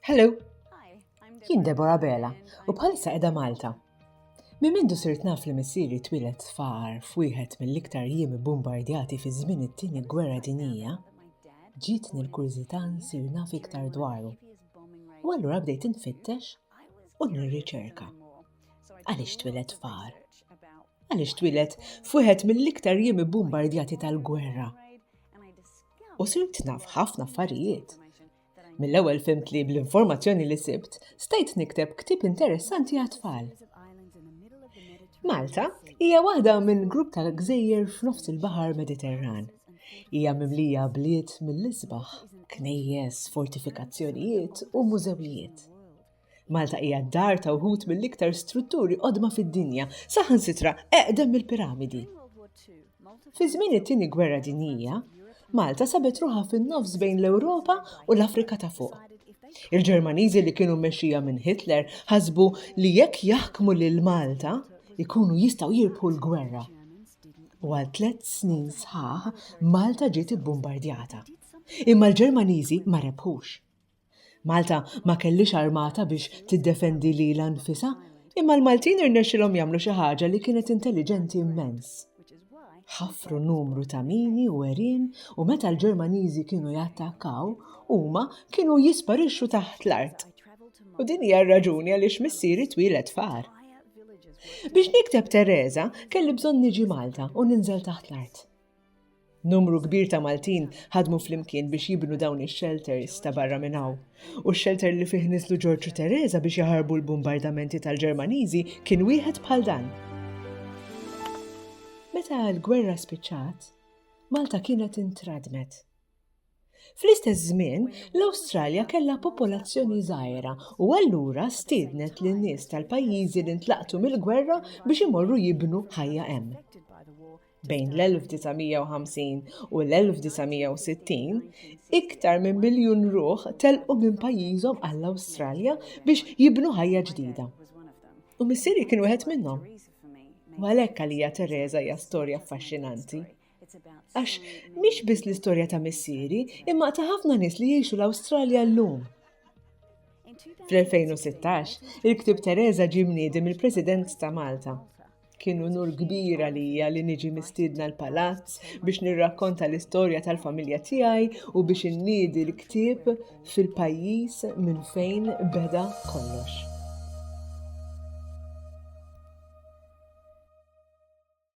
Hello! Jien Deborah Bela u bħalissa qiegħda Malta. Minn mindu sirt naf li missieri twilet far f'wieħed mill-iktar jiem bombardjati fi żmien it-tieni gwerra dinija, ġiet nil-kurżità nsir naf iktar dwaru. U allura bdejt infittex u nirriċerka. Għaliex twilet far? Għaliex twilet f'wieħed mill-iktar jiem bombardjati tal-gwerra? U sirt naf ħafna affarijiet. Mill-ewwel fimt li bl-informazzjoni li sibt stajt nikteb ktib interessanti għat-tfal. Malta hija waħda minn grupp tal-gżejjer f'nofs il-Baħar Mediterran. Hija mimlija bliet mill-isbaħ, knejjes, fortifikazzjonijiet u mużewijiet. Malta hija d-dar ta' wħud mill-iktar strutturi qodma fid-dinja, saħansitra eqdem mill-piramidi. Fi żmien it-tieni gwerra dinjija, Malta sabet ruħa fin-nofs bejn l-Ewropa u l-Afrika ta' fuq. Il-Ġermaniżi li kienu mexxija minn Hitler ħasbu li jekk jaħkmu lil Malta ikunu jistgħu jirbħu l-gwerra. U għal tliet snin sħaħ Malta ġiet ibbumbardjata. Imma l-Ġermaniżi ma rebħux. Malta ma kellhiex armata biex tiddefendi lilha nfisha, imma l-Maltin irnexxilhom jagħmlu xi ħaġa li kienet intelliġenti immens. Ħaffru numru ta' mini u għerien u meta l-Ġermaniżi kienu jattakkaw, huma kienu jisparixxu taħt l-art. U din hija r-raġuni għaliex missieri twieled far. Biex nikteb Teresa, kelli bżonn niġi Malta u ninżel taħt l-art. Numru kbir ta' Maltin ħadmu flimkien biex jibnu dawn ix-xelters ta' barra minn hawn. U x-xelter li fih niżlu Ġorġ u Tereża biex jaħarbu l-bumbardamenti tal-Ġermaniżi kien wieħed bħal dan. Meta l-gwerra spiċċat, Malta kienet intradmet. Fl-istess żmien, l-Awstralja kellha popolazzjoni żgħira u allura stiednet lin-nies tal-pajjiżi li ntlaqtu mill-gwerra biex imorru jibnu ħajja hemm. Bejn l-1950 u l-1960, iktar minn miljun ruħ telqu minn pajjiżhom għall-Awstralja biex jibnu ħajja ġdida. U missieri kien wieħed minnhom. U għalhekk għalija Teresa hija storja affaxxinanti. Għax mhix biss l-istorja ta' missieri, imma ta' ħafna nies li jgħixu l-Awstralja llum. Fl-2016, il-ktib Teresa ġie mniedi mill-President ta' Malta kienu nur kbira lija li niġi mistiedna l-palazz biex nirrakkonta l-istorja tal-familja tiegħi u biex innidi l-ktieb fil-pajjiż minn fejn beda kollox.